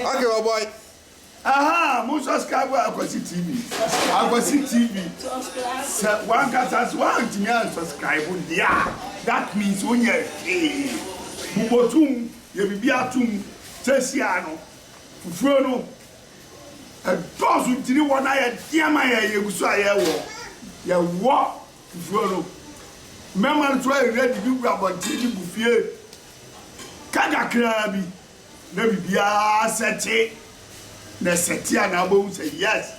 Okay, oh boy. Aha, mo subscribe wa Akwasi TV. Akwasi TV. Sɛ wankasa sɛ wantumi an subscribe deɛ a, that means wonyɛ hwee. Bobɔtum, yɛ biribi atom, sɛsia no, fufuo no, ɛdɔɔso ntini wɔ na yɛdeɛ ma yɛ yɛgu so a yɛwɔ. Yɛwɔ. Nsuo no. Mmarima no to awia didi gu abɔnten de gu fie ka kakraa bi na biribiara sɛte. Na ɛsɛte a na wobɛhu sɛ yes,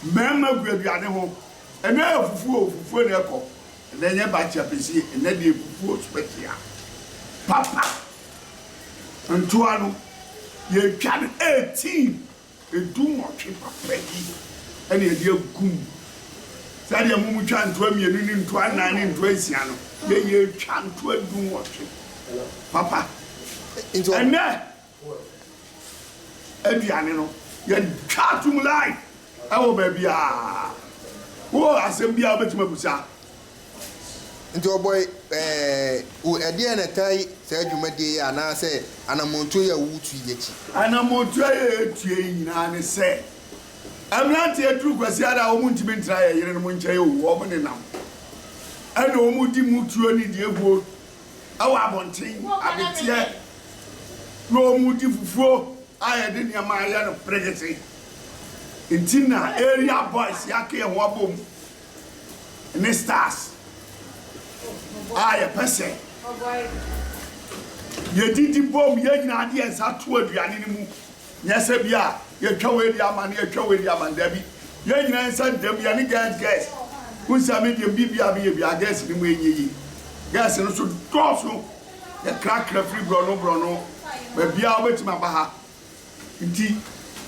mmarima gu aduane ho. Ɛnnɛ ayɛ fufuo o, fufuo na ɛkɔ. Ɛnnɛ nyɛ bakye apɛsie, ɛnnɛ deɛ fufuo special papa. Ntoa no, yɛtwa no 18. Dunwɔtwe papa bi na yɛde agu mu. Saa deɛ mo mu twa ntoa mmienu ne ntoa nnan ne ntoa nsia no, yɛn yɛ twa ntoa dunwɔtwe papa. Ɛnɛ aduane no yɛ twa atom line ɛwɔ baabi a. Wo wɔ asɛm bi a wobɛtumi abusa Nti ɔbɔe ɛɛɛ o Ɛdeɛn na ɛtae saa dwumadie yi anaasɛ anamɔntuo yi a woretu yi akyi? Anamɔntuo a yɛretu yi nyinaa ne sɛ mmeranteɛ duru Kwasiada a wɔntumi ntena yɛn yerenom nkyɛn o, wɔn nenam ɛna wɔdi mu tuo ne deɛ guo wɔ abɔnten, abeteɛ na wɔdi fufuo a yɛde nneɛma ayɛ no perekete. Nti na Area Boys yɛaka yɛn ho abom ne stars a yɛpɛ sɛ yɛdidi bom yɛn nyinaa de yɛn nsa to aduane no mu nyɛ sɛ bi a yɛtwa wei de ama no yɛtwa wei de ama no dabi yɛn nyinaa nsa dam yɛn ne gɛs gɛs wo nsa me deɛ biribi a meyɛ bia gɛs no mu ɛnyɛ yi gɛs no so dɔɔso yɛkrakra firi borɔno borɔno baabi a wobɛtumi aba ha Ntsi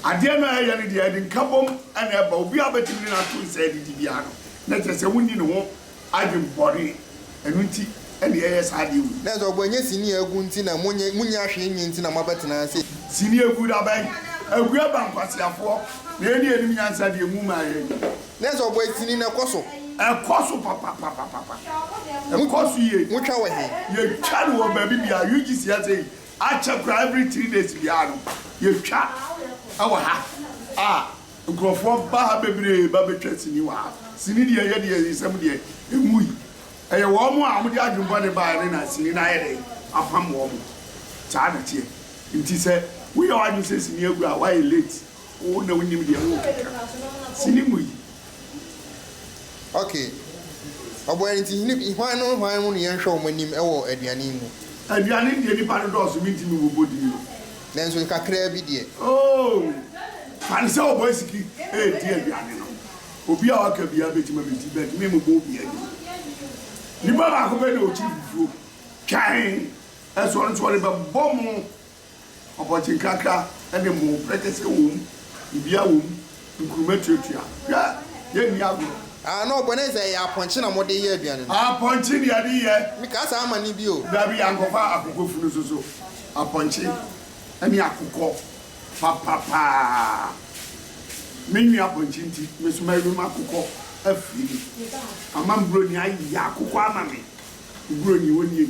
adeɛ no a ɛyɛ no deɛ ɛde nkabom na ɛba. Obiara bɛtumi ne no ato nsa adidi biara no, na kyerɛ sɛ wonni ne ho adwen bɔne. Ɛno nti na yɛyɛ saa adeɛ wei. Nɛ sɛ ɔbɔ nyɛ sini a agu nti na monyɛ monnya hwee nyɛ nti na moabɛtena ase. Sini agu da bɛn? Agu aba nkwaseafoɔ na yɛn ne yɛnim nyansa deɛ mu ma yɛn. Nɛ sɛ ɔbɔ sini no ɛkɔ so. Ɛkɔ so papapapapapa. Ɛkɔ so yie. Motwa wɔ he? Yɛtwa no wɔ baabi biara. UGC ha sei Akyɛ koraa every three days biara no yɛtwa ɛwɔ ha a nkorɔfoɔ ba ha bebree ba bɛtwa sini wɔ ha. Sini deɛ ɛyɛ deɛ nsɛm deɛ ɛnwui. Ɛyɛ wɔn a wɔn de adwene bɔne baeɛ no na sini no ayɛ dɛn apam wɔn. Saa na ɛteɛ. Nti sɛ woyɛ w'adwene sɛ sini agu a woayɛ late. Wo na wo nim deɛ wo keka sini mu yi. Ok ɔbɔyɛ nti hini hwan no hwan mu na yɛn hwɛ wɔn anim ɛwɔ aduane yi mu. Aduane deɛ nipa no dɔɔso mi ntumi wɔ bɔ din no. Nanso kakraa bi deɛ. Oh fane sɛ ɔbɔ asiki ɛɛdi aduane no obi a waka biara bɛtumi abɛdi but me mebɔ obiara din nipa baako pɛ na ɔkyiri fufuo twɛn ɛso ɔno nso ɔde bɛbɔ mo Ɔpɔnkye nkrakra ne mmo, prekese wom, dibea wom, nkuruma tuatua. Hwɛ! Yenni agorɔ. Ah, na ɔbɔ no ɛ sɛ ɛyɛ apɔnkye na mode yɛ aduane no. Apɔnkye na yɛde yɛ. Mekaa saa ma no bio. Dabi, ankɔfa akokɔfunu nso so. Apɔnkye ne akokɔ papa paa. Me nwe apɔnkye nti, me nso mɛwe m'akokɔ afiri me. Ama me buroni ayeyɛ akokɔ ama me. Me buroni, onnie.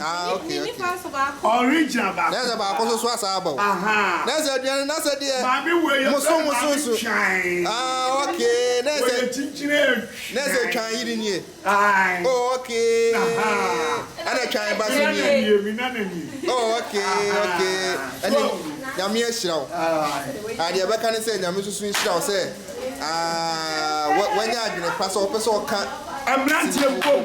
Ah ok ok. Original baako. Na sɛ baako nso so asaa aba o. Ahaa. Na sɛ aduane no na sɛ deɛ. Maame wei yɛ fɛ no maame twan. Ah ok na sɛ. Wei yɛ kyikyire twan. Na sɛ twan yiri nie. Ae. Oh ok. Ahaa. Ɛna twan ba so nie. Mina na nie mina na nie. Oh ok ok. Ahaa. So ahu. Nyame ahyira wo. Ae. Ah deɛ ɛbɛka ne sɛ Nyame nso so nhyira wo sɛ ah wanya adwene pa sɛ wopɛ sɛ ɔka. Mmranteɛ bom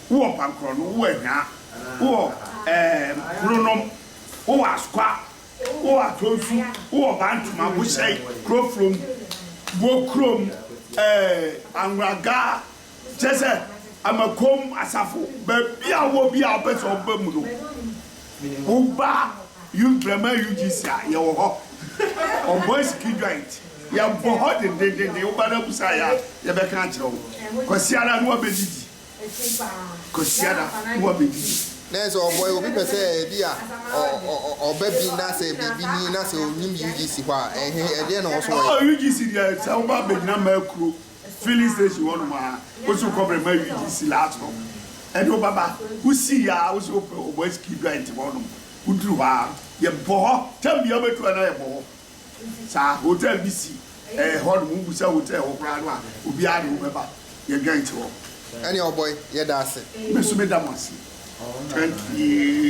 wowɔ Mpankrɔn, wowɔ Anhwaa, wowɔ ɛɛm Kuronom, wowɔ Askwa, wowɔ Atonsu, wowɔ Bantama, Bohyɛn, Kurofrom, Bokurom, ɛɛ Anwraga, kyerɛ sɛ Amakom, Asafo, baabi a wowɔ biara a wopɛ sɛ woba mu no, woba Youth Braman UGC a, yɛwɔ hɔ. Ɔbɔe Siki Joint, yɛwɔ hɔ dendendenden, woba no abusa yɛn a, yɛbɛka akyerɛ wo. Kwasiada ne woabɛdidi. Kwasiada woa bɛdi. Nɛ sɛ ɔbɔe obi pɛ sɛ ebi a ɔba bi na sɛ biribi ni na sɛ ɔnim UGC hɔ a ɛhe ɛdeɛn na ɔwɔsɛ ɔyɛ? Oh UGC deɛ sɛ woba abɛgyina mmaa kuro filling station hɔ nom a wosɛ wokɔbrɛ mmaa UGC last hɔ ɛne wo bɛba wosi yɛ a wosɛ wopɛ ɔbɔ asiki joint hɔ nom woduru hɔ a yɛbɔ hɔ term biara wobɛtu a na yɛbɔ hɔ Saa hotel bi si ɛɛ hɔ nom, wobu sɛ hotel hɔ koraa no a obiara ne wo bɛba, yɛdwɛn te hɔ. Ɛne ɔbɔe, yɛda ase. Me nso meda mo ase. Thank you.